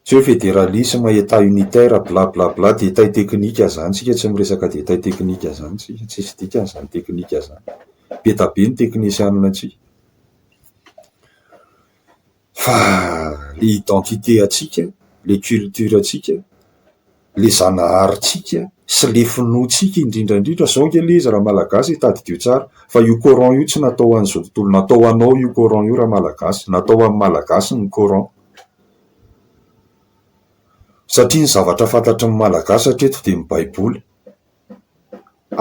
Tsy hoe federalisma, Etat unitaire, bla bla bla, détails techniques izany. Isika tsy miresaka détails techniques izany isika, tsisy dikany izany teknika izany. Be dia be ny teknisianina aty. Fa ilay identité antsika, ilay culture antsika. le zanaharintsika sy le finoantsika indrindra indrindra zao nge le izy ra malagasy e tadidio tsara fa io coran io tsy natao ho an'izao tontolo natao ho anao io coran io ra malagasy natao ho an'ny malagasy ny coran satria ny zavatra fantatry ny malagasy hatreto de ny baiboly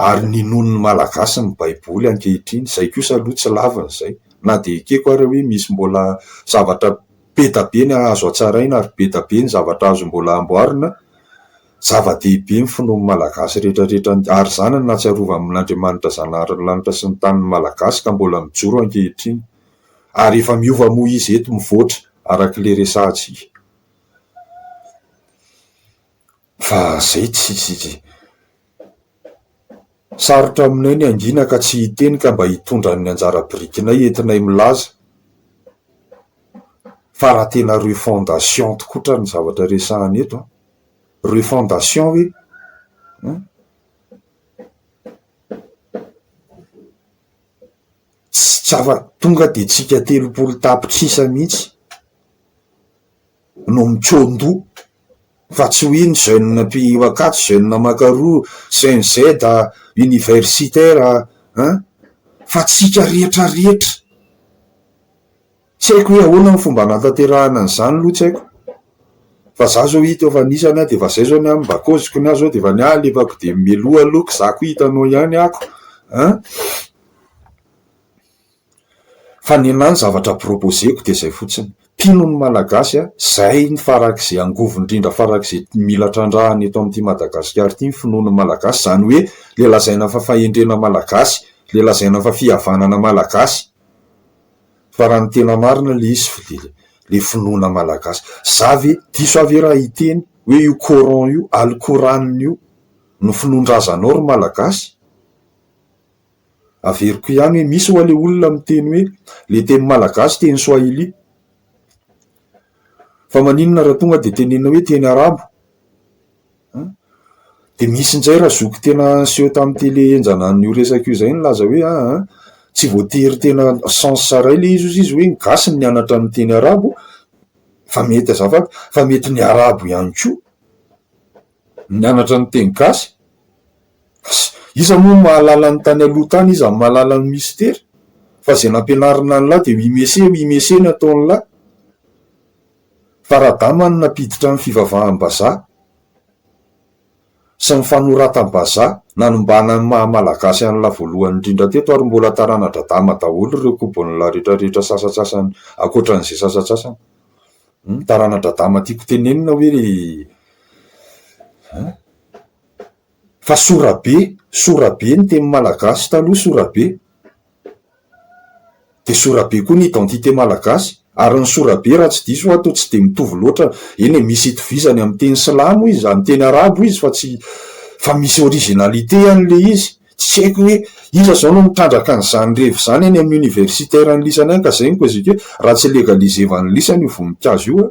ary ninoan'ny Malagasy ny Baiboly ankehitriny, izay kosa aloha tsy lavin'izay, na dia ekeko ary hoe misy mbola zavatra be dia be ny azo hatsaraina ary be dia be ny zavatra azo mbola amboarina, zava-dehibe ny finoan'ny Malagasy rehetra rehetra, ary izany no nahatsiarovan'Andriamanitra Zanahary ny lanitra sy ny tany ny Malagasy ka mbola mijoro ankehitriny, ary efa miova moa izy eto mivoatra, arak'ilay resahantsika. Fa zay tsy tsy. Sarotra aminay ny hangina ka tsy hiteny ka mba hitondra ny anjara birikinay entinay milaza fa raha tena refondation tokoa tra ny zavatra resahana eto an, refondation hoe an, tsy afa-tonga dia tsika telopolo tapitrisa mihitsy. no mikoandoha fa tsy hoe ny jeune mpihiro akato, jeune makaroa, cnz, universitaire an! fa tsika rehetra rehetra, tsy haiko hoe ahoana ny fomba hanatanterahana an'izany aloha tsy haiko fa za zao hita eo fa anisany aho dia efa zay zao ny ahy mba cause-ko ny ahy zao dia efa ny ahy alefako dia mialoha aloha ko za ko hitanao ihany aho ko an! Fa ny anahy ny zavatra proposer-ko dia izay fotsiny, mpino ny Malagasy aho, izay ny farak'izay angovo indrindra farak'izay mila trandrahana eto amin'ity Madagasikara ity ny finoan'ny Malagasy, izany hoe ilay lazaina fa fahendrena Malagasy, ilay lazaina fa fihavanana Malagasy, fa raha ny tena marina ilay izy fa dia ilay finoana Malagasy. Za ve, diso ahy ve raha hiteny hoe io Coran io, Alcoran io no finoan-drazanao ry Malagasy? Averiko ihany hoe misy ho'a le olona miteny hoe le teny malagasy teny swahili. Fa maninona raha tonga dia tenenina hoe teny arabo? An! Dia misy indray ra zoky tena niseho tamin'ny tele henjana an'io resaka io izay nilaza hoe aa tsy voatery tena sens iray ilay izy hozy izy hoe ny gasy no nianatra ny teny arabo fa mety azafady fa mety ny arabo ihany koa. Mianatra ny teny gasy? Asa! Iza moa no mahalala ny tany aloha tany, iza no mahalala ny mistery? Fa izay nampianarina an'lah dia oui monsieur, oui monsieur ny ataon'lah. Fa Radama no nampiditra ny fivavaham-bazaha sy ny fanoratam-bazaha nanimbana ny maha Malagasy an'lah voalohany indrindra teto ary mbola tarana-dRadama daholo ireo kobon'lah rehetra rehetra sasatsasany ankoatran'izay sasatsasany. Humm tarana dradama tiako tenenina hoe ry a! Fa sorabe, sorabe ny teny malagasy taloha sorabe, dia sorabe koa ny identité malagasy, ary ny sorabe raha tsy diso aho toa tsy dia mitovy loatra, eny e, misy itovizany amin'ny teny silamo izy, amin'ny teny arabo izy fa tsy, fa misy originalité any ilay izy. Tsy haiko hoe iza izao no mitrandraka an'izany revy izany eny amin'ny universitaire an'lisany any ka izay no koziko hoe raha tsy legaliser-va an'lisany io voninkazo io an!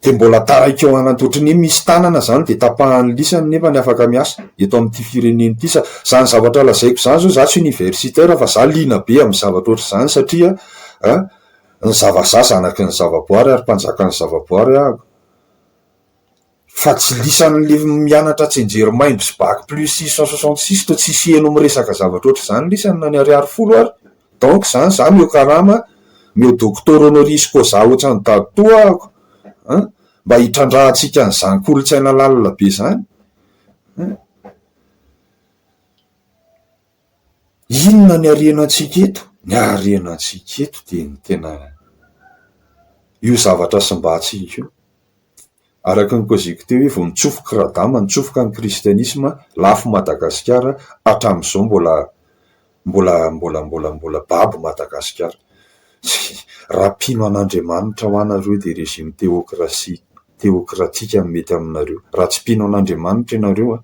Dia mbola taraiky eo anatiny, ohatran'ny hoe misy tanana izany dia tapahan'ny lisany nefa ny afaka miasa eto amin'ity firenena ity. Sa- izany zavatra lazaiko izany izao, izaho tsy universitaire fa izaho liana be amin'ny zavatra ohatr'izany satria an! ny zava-za zanaky ny zavaboary ary mpanjakan'ny zavaboary aho. Fa tsy lisan'le mianatra tsenjerimaimbo sy bac plus six cent soixante six toa tsisy heno miresaka zavatra ohatr'izany lisany na ny ariary folo ary. Donc zany za meo karama, meo doctor honoris causa ohatran'i dadtoa ahako an! Mba hitrandrahantsika an'izany kolontsaina lalina be zany an! Inona ny harenantsika eto? Ny harenantsika eto dia ny tena io zavatra simbantsika io. Araka ny koziko teo hoe vao nitsofoka i Radama, nitsofoka ny kristianisma, lafo i Madagasikara, hatramin'izao mbola mbola mbola mbola mbola babo i Madagasikara. Raha mpino an'Andriamanitra hoa nareo dia régime théocratie, théocratique no mety aminareo. Raha tsy mpino an'Andriamanitra ianareo an!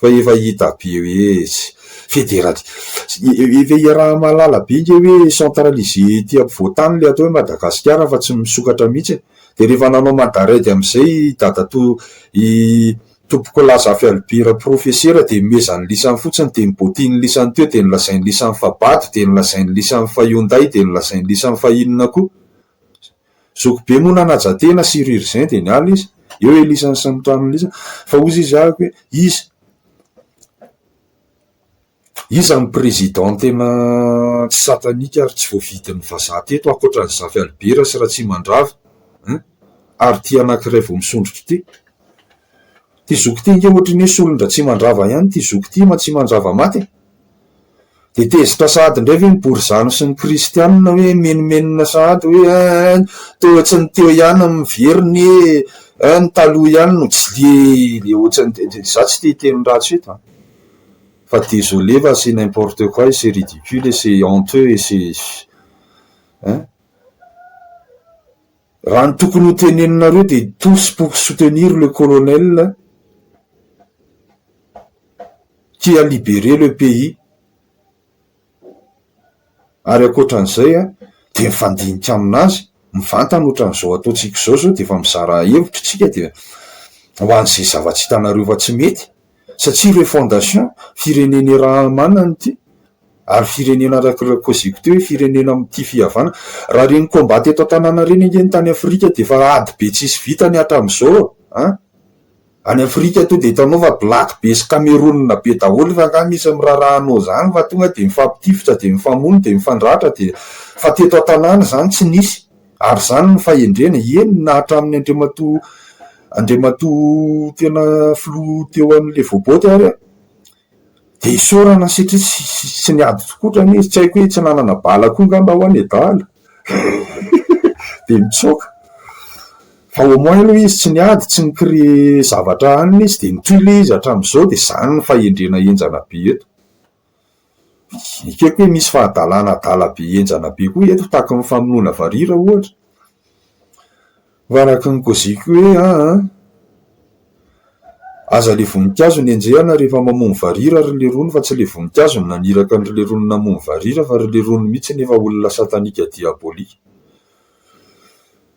Fa efa hita be hoe tsy federal efa iaraha-mahalala be nge hoe centralisé ety ampovoan-tany ilay atao hoe Madagasikara fa tsy misokatra mihitsy e! Dia rehefa nanao mandarègue amin'izay i dadatoa i Tompokolahy Zafialibera profesera dia nomezany lisany fotsiny dia nobaotiny lisany teo dia nolazainy lisany fa bado dia nolazainy lisany fa Hyundai dia nolazainy lisany fa inona koa Zoky be moa nanaja tena sur urgent dia niala izy. Eo Elisany sy ny mpitaminy Lisa fa hozy izy ahiko hoe iza iza ny président tena tsy satanique ary tsy voavidin'ny vazaha teto ankoatran'i Zafy Albert sy Ratsimandrava hein ary ity anankiray vao misondrotra ity. Ity zoky ity ange ohatry ny hoe solon-dRatsimandrava ihany ity zoky ity Matsimandrava maty e! Dia tezitra sahady indray ve ny borizano sy ny kristianina hoe mimenomenona sahady hoe ein toa tsy ny teo ihany no miverina e, ein ny taloha ihany no jly ohatran'ny, za tsy te hiteny ratsy eto an, fa désolé fa c'est n'importe quoi et c'est ridicule et c'est honteux et c'est ein. Raha ny tokony ho teneninareo dia tous pour soutenir le colonel qui a libéré le pays ary ankoatran'izay dia mifandinika amin'azy mivantana ohatran'izao ataontsika izao zao dia efa mizara hevitra isika dia ho an'izay zava-tsy hitanareo fa tsy mety satria ireo fondation firenena irahamanana ity ary firenena araka ireo koziko teo hoe firenena tia fihavana raha ireny combat teto an-tanàna ireny ange ny tany afrika dia efa ady be tsisy vitany hatramin'izao an! any afrika tonga dia hitanao fa black be sy kameronina be daholo efa angaha misy miraharaha anao izany fa tonga dia mifampitifitra dia mifamono dia mifandratra dia fa teto an-tanàna izany tsy nisy Ary izany no fahendrena, eny na hatramin'ny Andriamatoa Andriamatoa tena Filoha teo an'ilay voaboty ary an, dia isaorana satria tsy niady tokotrany izy, tsy haiko hoe tsy nanana bala koa angamba ho'a ny adala dia nitsoaka, fa au moins aloha izy tsy niady, tsy ni créer zavatra hanina izy dia nitohy ilay izy hatramin'izao dia izany no fahendrena henjana be eto. ekeko hoe misy fahadalana adala be henjana be koa eto tahaka ny famonoana varira ohatra ho araka ny koziko hoe aa aza le voninkazo ny enjehana rehefa mamono varira ry lerony fa tsy le voninkazo ny naniraka ny ry lerony namono varira fa ry lerony mihitsy nefa olona satanika diabolik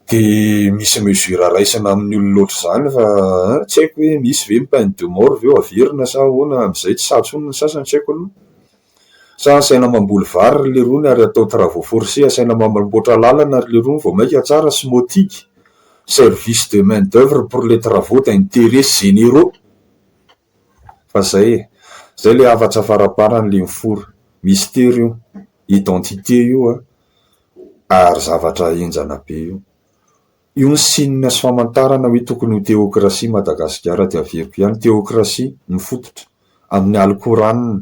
Dia misy mesure raisina amin'ny olona ohatr'izany fa an, tsy haiko hoe misy ve ny peine de mort ve averina sa ahoana amin'izay tsy sahy intsony ny sasany tsy haiko aloha. Sa asaina mamboly vary ry lerony ary atao travaux forcés asaina mamboatra lalana ry lerony vao maika tsara SMOTIC, service de main d'oeuvre pour les travaux d'interet généraux. Fa zay e! Zay le hafatra avarabarany le mifoha. Mystère io. Identité io an. Ary zavatra henjana be io. Io ny signe sy famantarana hoe tokony ho teokrasia Madagasikara dia averiko ihany. Teokrasia mifototra amin'ny Alikoranina.